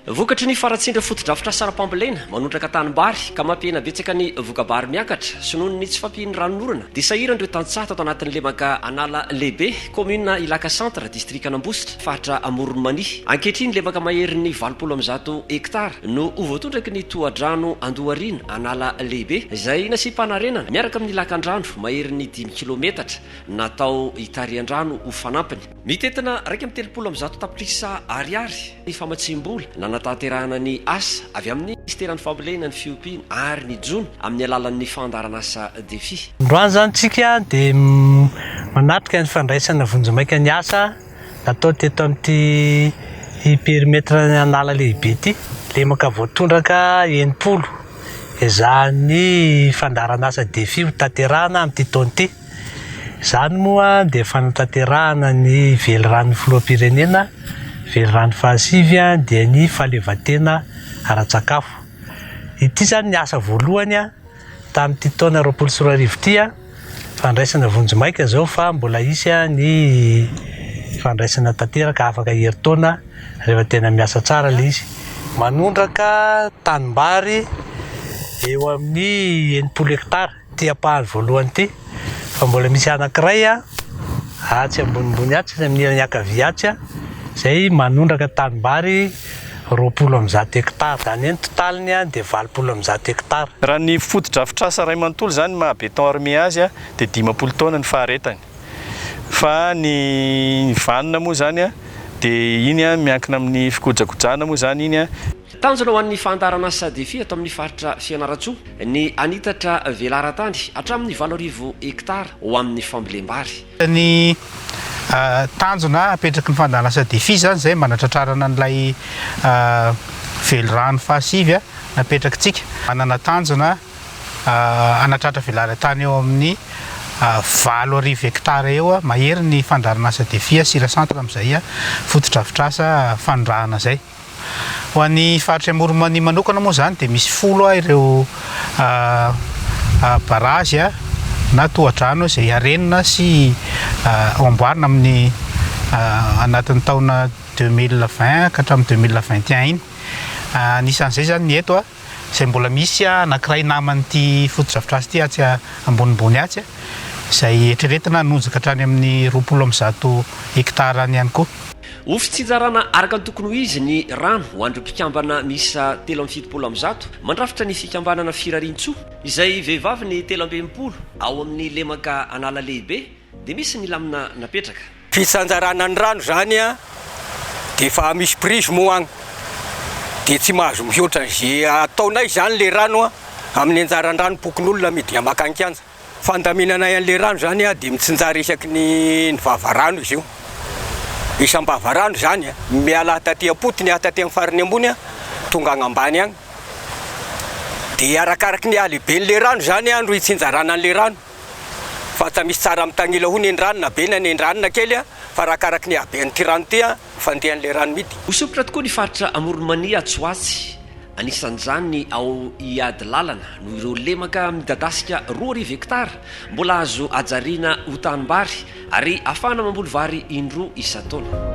Vokatry ny faratsindra fotodrafitrasa ara-pambolena manondraka tanimbary ka mampihena betsaka ny voka-bary miakatra sy noho ny tsy fampian'ny ranon'orana dia sahiran'ireo tantsaha tato anatin'ny lemaka an'ala lehibe kaominina Ilaka centre distrikan'Ambositra faritra Amoron'i Mania. Ankehitriny, levaka maherin'ny valopolo amby zato hektara no ho voatondraky ny tohadrano Andohariana, An'ala Lehibe, izay nasiam-panarenana miaraka amin'ny lakandrano maherin'ny dimy kilaometatra natao hitarihan-drano ho fanampiny. Mitentina iraika amby telopolo amby zato tapitrisa Ariary ny famatsiam-bola nanatanterahana ny asa avy amin'ny Minisiteran'ny Fambolena, ny Fiompiana ary ny Jono amin'ny alalan'ny fandaharanasa Defi. Androany izany isika dia manatrika ny fandraisana vonjimaika ny asa Natao teto amin'ity perimetran'ala lehibe ity, lemaka voatondraka enimpolo ezahan'ny fandaharanasa Defi ho tanterahana amin'ity taona ity. Izany moa dia fanatanterahana ny veliranon'ny filoham-pirenena, velirano fahasivy dia ny fahaleovantena ara-tsakafo. Ity izany ny asa voalohany. Tamin'ity taona roapolo sy roa arivo ity, fandraisana vonjimaika izao fa mbola hisy ny fandraisana tanteraka afaka herintaona rehefa tena miasa tsara ilay izy. Manondraka tanimbary eo amin'ny enimpolo hekitara ity ampahany voalohany ity fa mbola misy anankiray atsy ambonimbony atsy amin'ny ilany ankavia atsy izay manondraka tanimbary roapolo amby zato hekitara. Izany hoe ny totaliny ihany dia valopolo amby zato hekitara. Raha ny fotodrafitrasa iray manontolo izany ny maha béton armé azy dia dimampolo taona ny faharetany. Fa ny vanona moa izany dia iny miankina amin'ny fikojakojana moa izany iny. Tanjona ho an'ny fandaharan'asa Defi eto amin'ny faritra Fianarantsoa ny hanitatra velaran-tany hatramin'ny valo arivo hekitara ho amin'ny fambolem-bary. Ny tanjona apetraky ny fandahalasa Defi izany izay mba hanatratrarana an'ilay velirano fahasivy napetrakitsika. Manana tanjona hanatratra velaran-tany eo amin'ny valo arivo hektara eo mahery ny fandaharanasa Defi sy Ira Centre amin'izay fotodrafitrasa fanondrahana izay. Ho an'ny faritr'i Amoron'i-Mania manokana moa izany dia misy folo a ireo barazy a na tohadrano izay harenina sy hamboarina amin'ny anatin'ny taona deux mille vingt ka hatramin'ny deux mille vingt et un iny. Anisan'izay izany ny eto a, izay mbola misy a anankiray naman'ity fotodrafitrasa ity atsy ambonimbony atsy a, izay eritreretina hanonja ka hatrany amin'ny roapolo amby zato hektarany ihany koa. Ho fitsinjarana araka ny tokony ho izy ny rano ho an'ireo mpikambana miisa telo amby fitopolo amby zato mandrafitra ny fikambanana Firariantsoa, izay vehivavy ny telo amby enimpolo ao amin'ny lemaka Analalehibe dia misy ny lamina napetraka. Fitsanjarana ny rano izany dia efa misy prise moa agny dia tsy mahazo mihoatra izay ataonay izany ilay rano amin'ny anjaran-dranom-pokonolona amidy makany kianja. Fandaminanay an'ilay rano izany dia mitsinjara isaky ny ny vavarano izy io. Isam-bavarano izany, miala ahy taty am-potony aho taty amin'ny farany ambony tonga any ambany any. Dia arakaraky ny halehiben'ilay rano izany no itsinjarana an'ilay rano. Fa tsy misy tsara mitanila hono eny rano na be na eny rano na kely fa arakaraky ny habean'ity rano ity fandehan'ilay rano midy. Ho sompitra tokoa ny faritra Amoron'i Mania atsy ho atsy, anisan'izany ao Ihadilalana, noho ireo lemaka midadasika roa arivo hektara mbola azo hajariana ho tanimbary ary hahafahana mamboly vary indroa isan-taona.